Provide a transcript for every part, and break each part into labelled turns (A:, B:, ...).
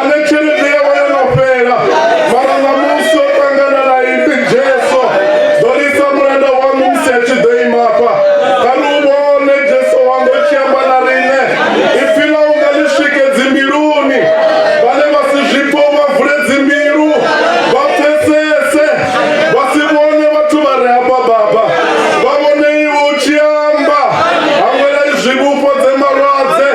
A: ane tshelede yawe yo no fhela mara ṋamusi o ṱangana na ipi jesu ḓo lisa mulanda waṋu musi a tshi ḓo imafha kha ri u vhone jesu wanga u tshi amba na riṋe ipfi ḽa unga ḽi swike dzimbiluni vhane vha si zwipfo vha vule dzimbilu vha pfesese vha si vhone vhathu vha re hafha baba vha vhone iwe u tshi amba hangwela izwi vhufhodze malwadze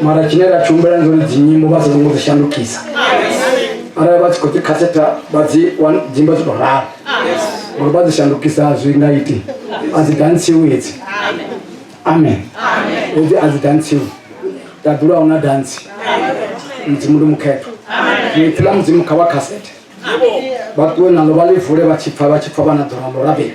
A: mara tshine ra tshihumbela ndi uri dzinyimbo vha songo dzi shandukisa arali vha tshi khou dzi khaseta vha dzi dzimba dzi tou ralo uri vha dzi shandukisa zwi nga iti a dzi dantsiwe hedzi amen hedzi a dzi dantsiwe tabelo a huna dantsi mudzimu ndi mukhetho ipfi ḽa mudzimu kha vha khasete vha ṱuwe nalo vha ḽi vule vha tshi pfa vha tshi pfa vha na ḓora ḽo rabela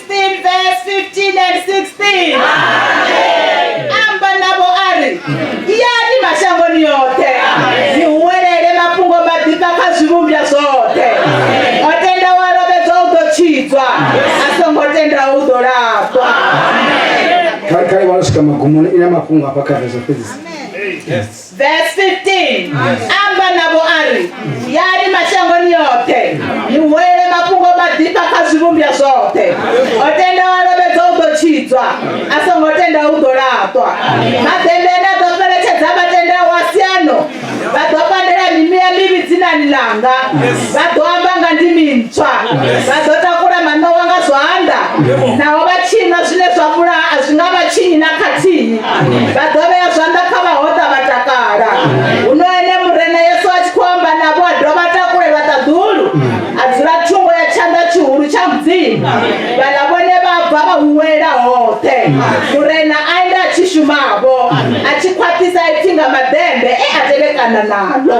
A: 16 verse 15 and 16 amba navho a ri yani mashangoni yoṱhe ni huwelele mafhungo maḓifha kha zwivhumbwa zwoṱhe o tendaho a lovhedzwa u ḓo tshidzwa a songo tendaho u ḓo lafhwa kale kale vha losika magumoni ina mafhungo afha kha rezo fhedzi Verse 15 amba navho a ri yani mashangoni yoṱhe ni huwele mafhungo maḓifha kha zwivhumbwa zwoṱhe o tenda wa lovhedza u ḓo tshidzwa a songo tenda u ḓo laṱwa maḓembe ane a ḓo fheletshedza vhatendaho wa siano vha ḓo pandela mimia mivhi dzinani ḽanga vha ḓo amba nga ndimi ntswa vha ḓo takula maṋowa nga zwanḓa naho vha tshinwa zwine zwa vhulaha a zwi nga vha tshinyi na khathihi vha ḓo vhea zwanḓa kha vhahoṱa vha takala huno ene murena yesu a tshi khou amba navho a dovha a takulelwa ṱaḓulu a dzula thungo ya tshanḓa tshihulu tsha mudzimu vhaḽa vhone vha bva vha huwelela hoṱhe murena a ende a tshi shumavho a tshi khwaṱhisa ipfi nga maḓembe e a tevhekana nalo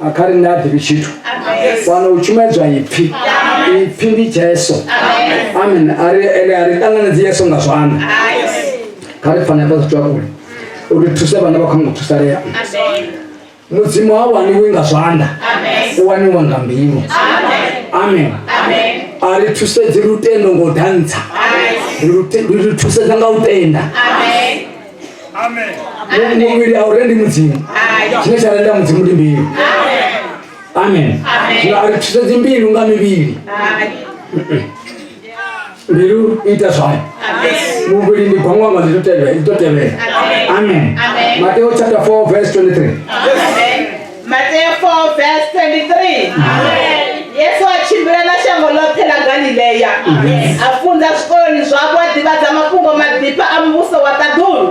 A: a kha riṋe a ḓivhi tshithu fano u tshumedzwa ipfhi ipfhi ndi jesu amen ari ene a ri ṱanganedzi yesu nga zwanḓa kha ri fanela fhasi twa kule uri thuse vhana vha khona u thusalea mudzimu ha waniwi nga zwanḓa u waniwa nga mbilu amen a ri thusedzi lutendo ngo dantsha ri thusedza nga u tenda amen muvhili a u rendi mudzimu tshine tsha renda mudzimu ndi mbilu amen zwino a ri thusedzi mbilu nga mivhili mbilu ita zwayo muvhili ndi gwangwanga ḽi ḓo tevhela amen mateo chapter 4 verse 23 Mateo 4 verse 23. Yesu a tshimbila na shango ḽoṱhe ḽa Galileya a funza zwikoloni zwavho a ḓivhadza mafhungo maḓifha a muvhuso wa ṱaḓulu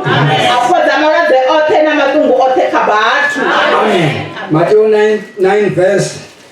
A: a fhodza malwadze oṱhe na maṱungu oṱhe kha vhathu. Mateo 9, 9 verse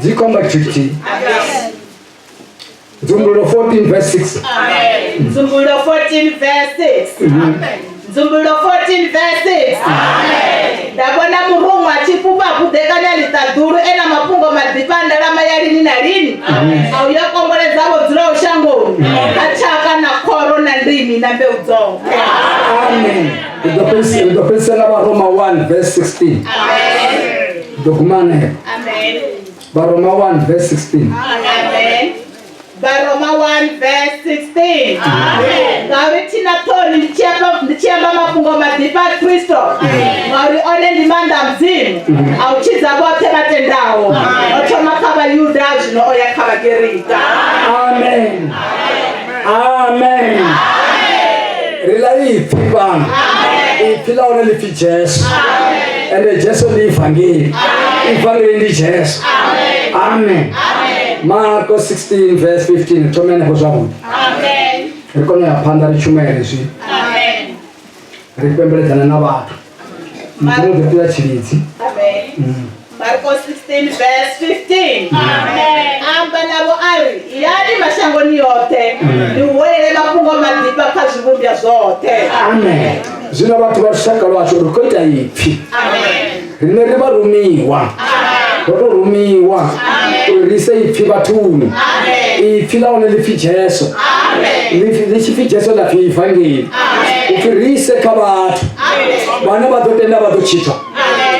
A: dzikomba tshitshithihi nzumbululo 14 verse 6 nzumbululo 14 verse 6 nzumbululo 14 verse 6 nda vhona murunwa a tshi fhufha khuḓekanya ḽiṱaḓulu e na mafhungo maḓifha ndalama ya lini na lini a uyo komboledza vho dzulaho shangoni a tshaka na khoro na ndimi na mbeu dzoṱhe amen u ḓo fhedzisela vharoma 1 verse 16 Dukumane. Amen. Baroma 1 verse 16. Amen. Baroma 1 verse 16. Amen. Ngauri thina thoni ndichiyamba ndichiyamba mafhungo madhipa a Kristo. Ngauri one ndi maanḓa a Mudzimu. A u tshidza vhoṱhe vha tendaho. O thoma kha Vhayuda zwino o ya kha Vhagerika. Amen. amen ri la yi pfi vana ipfi la hone lipfi jesu ende jesu ndi ivhangeli ivhangeli ndi jesu amen marko 16 vs 15 thome henefho zwavhuḓi ri kone u ya phanḓa ri tshumele zwi ri fhembeledzana na vhathu mudzimu ḓo tea tshilidzi mm. Marko 16 verse 15 Amen. amba navho a ri yani mashangoni yoṱhe ni huwelele mafhungo maḓifha kha zwivhumbwa zwoṱhe amen zwino vhathu vha lushaka lwashu ri khou ita ipfhi amen riṋe ri vha rumiwa ro to rumiwa uri ri ise ipfhi vhathuni ipfhi ḽa hone ḽipfhi jesu ḽi tshi pfhi jesu ḽa pfhi ivangeli upfhi ri ise kha vhathu vhane vha ḓo tenda vha ḓo tshitha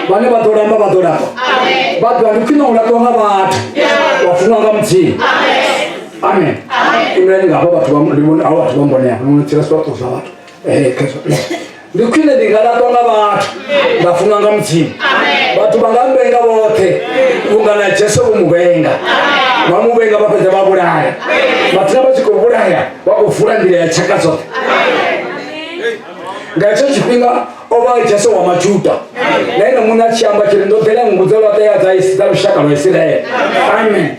A: vhane vha ḓo lamba vha ḓo lamba vha ḓo ndi khwine u laṱwa nga vhathu wa funwa nga mudzimu amen imulani ngafha vhathu vha vhathu vha mbonea no tshilaswa vhathu zwa vhathu ndi khwine ndi nga latwa nga vhathu nda funwa nga mudzimu vhathu vha nga mbenga vhoṱhe vhunga na jesu vho mu vhenga vha mu vhenga vha fhedza vha vhulaya vhathina vha tshi khou vhulaya vha khou vula nḓila ya tshaka dzoṱhe nga hetsho tshifhinga o vha jesu wa majuda na ene muṋe a tshi amba tshiri ndo ḓela nngu dza lwaṱeya dza lushaka lwa isiraele amen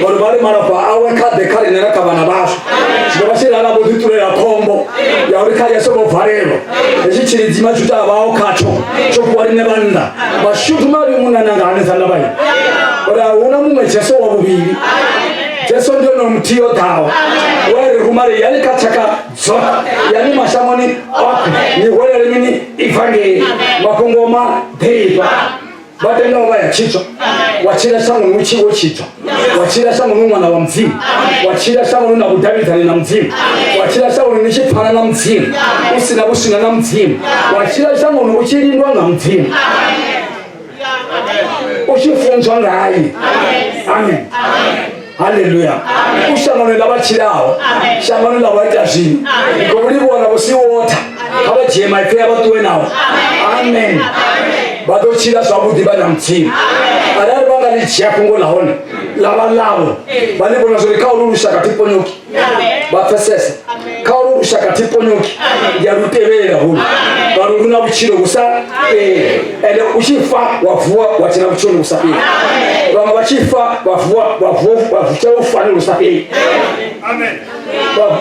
A: ngori vha ri malofha awe kha ḓe kha riṋe na kha vhana vhashu zwino vha tshi lala vho ḓiṱulela khombo ya uri kha yeso vho valelwa hetshi tshilidzima tsho tavhaho khatsho tsho fhiwa riṋe vhannḓa mashudu mavhi munana nga hanesa nda vhayo uri a huna muṅwe jeso wa vhuvhili jeso ndi ono muthihi o ḓaho wa ri rumale yani kha tshaka dzoṱhe yani mashangoni oṱhe ni hwelele mini ivangeli mafhungo ma ḓifha vha tenda u vha ya tshitwa wa tshila shango ni utshi wo tshitwa wa tshila shango ni ṅwana wa mudzimu wa tshila shango ni na vhudavhidzani na mudzimu wa tshila shango ni tshi pfana na mudzimu u si na vhuswina na mudzimu wa tshila shango ni u tshi lindwa nga mudzimu u tshi funzwa ngaye amen haleluya u shangoni ḽa vha tshilaho shangoni ḽa vha ita zwino khou livhuwa na vhusi wotha kha vha dzhie maipfi a vha ṱuwe nawo amen vha ḓo tshila zwavhuḓi vha na mudzimu arali vha nga ḽi dzhia fhungo ḽa hone ḽa vha ḽavho vha ḽi vhona zwori kha ulu lushaka thi ponyoki vapfesesa kha ulu lushaka tiponyoki ya lu tevhelela hulu ngauri lu na vhutshilo vhu sa fheli ende u tshi fa wa vuwa wa tshila vhutshiloni vhu sa fheli vhaṅwe vha tshi fa vha vuwa vha vuwa vha tshila vhufanelo vhu sa fheli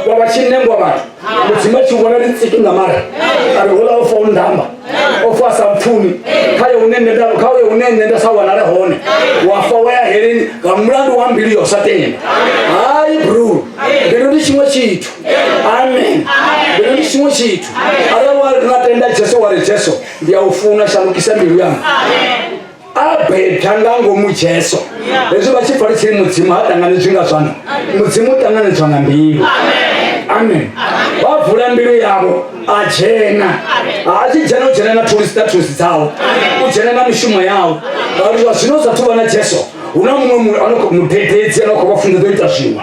A: vha vha tshi nengwa vhathu mudzimu atshi vhona ndi tsitu nga mara ari hula o fa u ndamba o fa sa mpfumi khaye hune nṋe nda khaye hune nṋe nda sa wanale hone wa fa wa ya heleni nga mulandu wa mbilu yo sa tenda hayi bro mbilu ndi tshiṅwe tshithu amen mbilu ndi tshiṅwe tshithu arali wa nga tenda jesu wa ri jesu ndi a u funa shandukisa mbilu yanga abeda nga ngomu jesu hezwi vha tshi falisei mudzimu ha ṱanganedzwi nga zwanḓa mudzimu u ṱanganedzwa nga mbilu amen vha vula mbilu yavho a dzhena ha tshi dzhena u dzhena na thulusi dza thulusi dzawo u dzhena na mishumo yawo ngauri zwa zwino zwa thuvha na jesu hu na muṅwe mudededzi ano khou vha funḓa ḓo ita zwiṅwe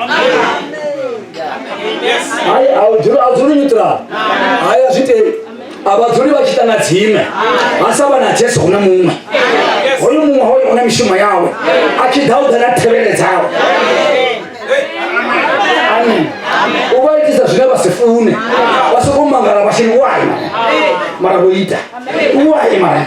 A: hayi a dzuli nyuṱula hayi a zwi tei a vha dzuli vha tshi ita na dzime ha sa vha na jesu huna muṅwe hoyo muṅwe hoyo huna mishumo yawe a tshi ḓa u ḓa na thevhele dzawe amen u vha itisa zwine vha si fune vha soko mangala vha shini wayo mara vho ita wayo mara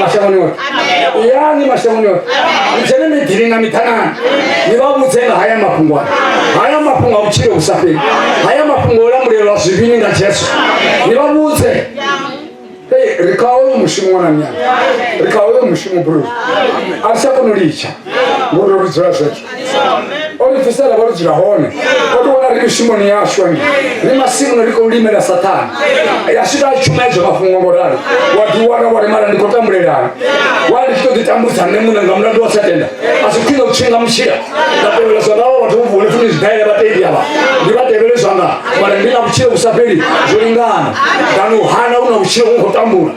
A: mashango ni oto yani mashango ni oto ijene midhiri na mitanani nivavudze nga haya mafhungo aya haya mafhungo a vutshilo vusafheli haya mafhungo o lamulelwa zwivhini nga jesu nivavudze Hey, ri kha hoyo mushumo wana nyana ri kha hoyo mushumo bro a ri tsha kona u litsha ngori ri dzula zwezwo o ri bvisela vha ri dzula hone o ri wana ri mishumoni yashu ane ri masimuni ri khou limela sathana ya swika a tshuma ezwo mafhungo ngo ralo wa ḓiwana wa rimala ndi khou tambulelana wa ndi tshi ḓo ḓitambudza nṋe muṋe nga mulandu wa sa tenda a si khwine u tshinga mutshila nda tevhela zwa ngawo vhathu vho vule funi zwidaele vhatendi avha ndi vha tevhele zwanga mara ndi na vhutshilo vhu sa fheli zwo lingana kana u hana u na vhutshilo u khou tambula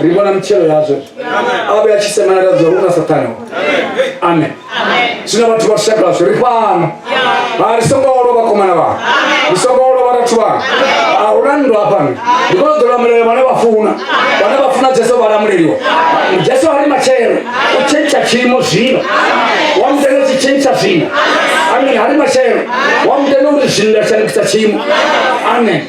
A: ri vhona mitshelo yazwo a vhe a tshi semanela zwa huna sathane amen zwino vhathu vha lushaka lwashu ri fhano ha ri songo olo vhakomana vha ri songo olo vharathu vha a huna ndo hafhano ndi kona ḓo lamulela vhane vha funa vhane vha funa jesu vha lamuleliwa jesu a ri matshelo u tshentsha tshiimo zwino wa mutenda tshi tshentsha zwino amen ha ri matshelo wa mutenda uri zwino nda shandukisa tshiimo amen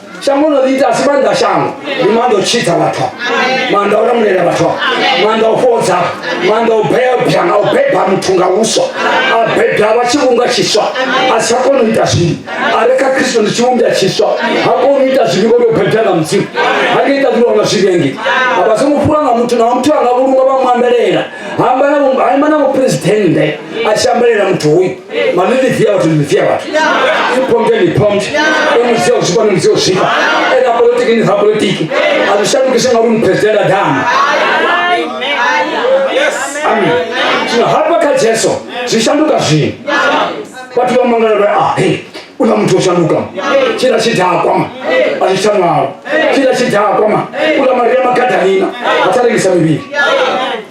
A: shango no ḽi ita a si maanḓa a shango ndi maanḓa o tshidza vhathu maanḓa o lamulela vhathu maanḓa o fhodza maanḓa o bebya na u beba muthu nga vhuswa a bebya vha tshivhumbwa tshiswa a sa koni u ita zwivhi a re kha kristo ndi tshivhumbwa tshiswa ha koni u ita zwivhi ngori o bebya nga mudzimu ha nga ita zwiwa nga zwivhengi a vha songo fhura nga muthu na wa muthu a nga vhulunga vha muambelela ha amba na vhu- ha ima na mupresidennde a tshi ambelela muthu hoyu manini via vhathu ni via vhathu ipombe ni pombe emusia ushipa ni musia ushipa ena politiki ni za politiki azishandukishe ngauri ni president adama amen zwino hafha kha jesu zwi shanduka zwino vhathu vha mangala vha ah hey una muthu o shanduka tshila tshidakwa ma a zwi tsha ṅwalo tshila tshidakwa ma ula maria magadalina a tsa rengisa mivhili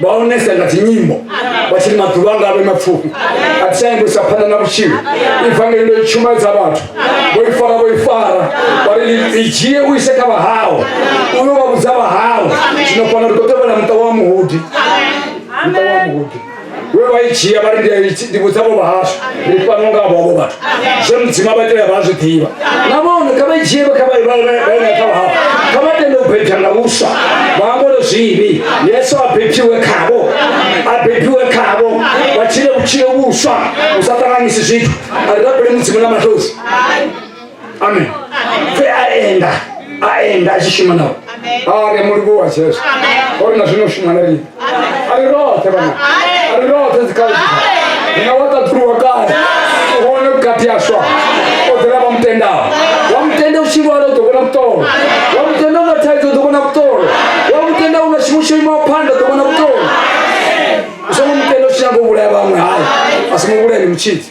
A: vha onesa nga dzinyimbo vha tshi maḓuvha nga vhe mapfufhi a ti tshanyi kuisa phanḓa na vhutshilo ivangeli ndo i tshumaedza vhathu vho i fara vho i fara vha ri i dzhie u ise kha vhahau u yo vha vhudza vhahau zwino fana ri khou tevhela muṱa wa muhudi muṱa wa muhudi we vha i dzhia vha ri ndi a i- ndi vhudza vho vhahashu ndi fano nga vhovho vhathu zwe mudzima vha tea vha zwi ḓivha na vhone kha vha i dzhie kha vha i- vha- vha- vha i nga kha vhahawe kha vha tende u bebya nga vhuswa vha ambole zwivhi yesu a bebiwe khavo a bebiwe khavo vha tshile vhutshilo vhuswa u sa ṱanganyisi zwithu a ri rabele mudzimu na mathosi amen pfe a enda a enda a tshi shuma nao are mulungu wa jesu ori na zwino shuma na riṋe ari roṱhe vhana ari roṱhe dzikhazi nga wa ṱaṱuluwa kale u hone vhukati ha swa o dzela vha mutendaho wa mutenda u tshi lwala u ḓo vhona vhuṱolo wa mutenda u na thaidzo u ḓo vhona vhuṱolo wa mutenda u na tshiṅwe tsho imaho phanḓa u ḓo vhona vhuṱolo u songo mutenda u tshi nyanga u vhulaya vhaṅwe hayi a songo vhulaya ni mutshidzi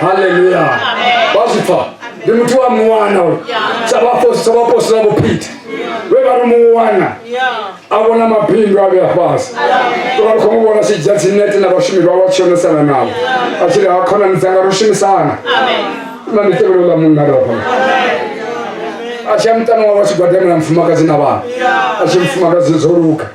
A: haleluya bazifa ndi muthu wa muwana uyu sa vhaposi- sa vhapostola vhupita vhe vha ri muwana a vhona mabindu a vhe a fhasi tovha ri khou mu vhona tshidza dzinete na vhashumi vha vha tshonesana navho a tshi ri ha khonani dzanga ro shumisana na ndi tevhelo ḽa munna ri vhafha a tshi ya muṱani wawe a tshi gwadamela mufumakadzi na vhana a tshi mufumakadzi dzo luga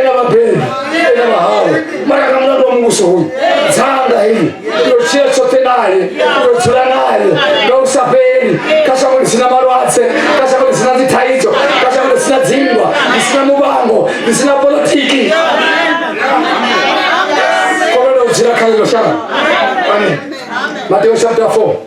A: ena vabebi ena vahau maraka mulandu wa muvhuso uyu dzanga hili ndochia tshoṱhe naye ndodzula naye nga u sa fheli kha shango ḽi sina malwadze kha shango ḽi sina dzithaidzo kha shango ḽi sina dzinndwa ḽi sina muvhango ḽi sina politiki kololo u dzula kha ḽino shango amen mateo chapter 4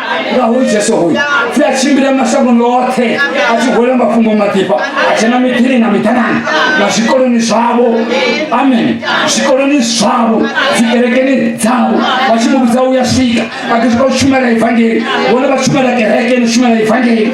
A: nga hoyu jesu hoyu pfi a tshimbila mashangono oṱhe a tshi gola mafhungo maḓifha a tshena miḓini na miḓanani na zwikoloni zwavho amen zwikoloni zwavho dzikerekeni dzavho vha tshi muvhudza u ya swika a tshi khou shumela evangeli vhone vha shumela kereke ni shumela evangeli